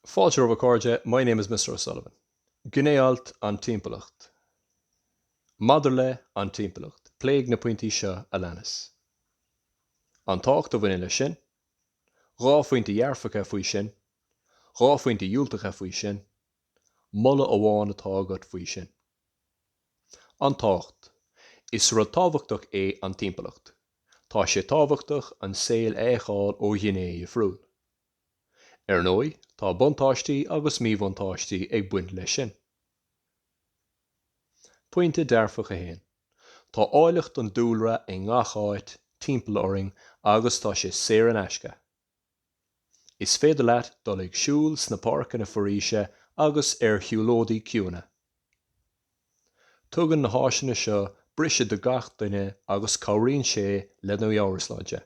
Fáilte romhaibh a chairde, my name is Mr. O'Sullivan. Gné-alt, An Timpeallacht Maidir le An Timpeallacht, pléigh na pointí seo a leanas, An tábhacht a bhaineann leis sin, Dhá phointe dhearfacha faoi sin, Dhá phointe dhiúltacha faoi sin, Moladh amháin atá agat faoi sin. An tábhacht. Is rud tábhachtach é an timpeallacht. Tá sé tábhachtach an saol a fheiceáil ó ghné dhifriúil. Ar ndóigh, tá buntáistí agus míbhuntáistí ag baint leis sin. Pointe dearfach 1. Tá áilleacht an dúlra i ngach áit timpeall orainn agus tá sé saor in aisce. Is féidir leat dul ag siúl sna páirceanna foraoise agus ar shiúlóidí ciúna. Tugann na háiseanna seo briseadh do gach duine agus cabhraíonn sé lena meabhairshláinte.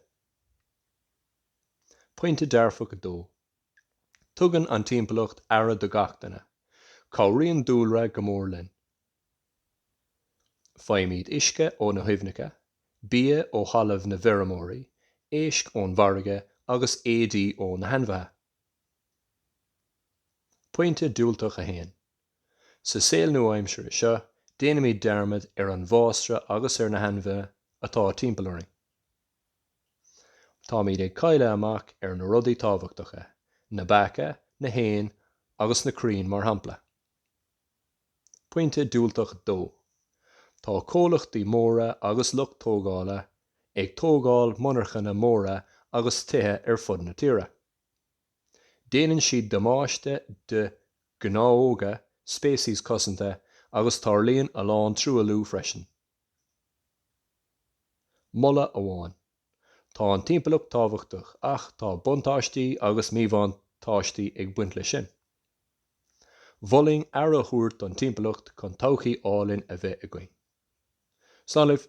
Pointe dearfach 2, Tugann an timpeallacht aire do gach duine. Cabhraíonn dúlra go mór linn. Faighimid uisce ó na haibhneacha, bia ó thalamh na bhfeirmeoirí, éisc ón bhfarraige agus éadaí ó na hainmhithe. Pointe diúltach 1. Sa saol nua-aimseartha seo, déanaimid dearmad ar an bhfásra agus ar na hainmhithe atá timpeall orainn. Táimid ag cailleadh amach ar na rudaí tábhachtacha, na beacha, na héin agus na crainn mar shampla. Pointe diúltach dó, tá comhlachtaí móra agus lucht tógála ag tógáil monarchana móra agus tithe ar fud na tíre. Déanann siad damáiste do ghnáthóga, speicis cosanta agus tarlaíonn a lán truailliú freisin. Moladh amháin. Tá an timpeallacht tábhachtach ach tá buntáistí agus míbhuntáistí ag baint leis sin. Mholfainn aire a thabhairt don timpeallacht chun todhchaí álainn a bheith againn. Slán libh.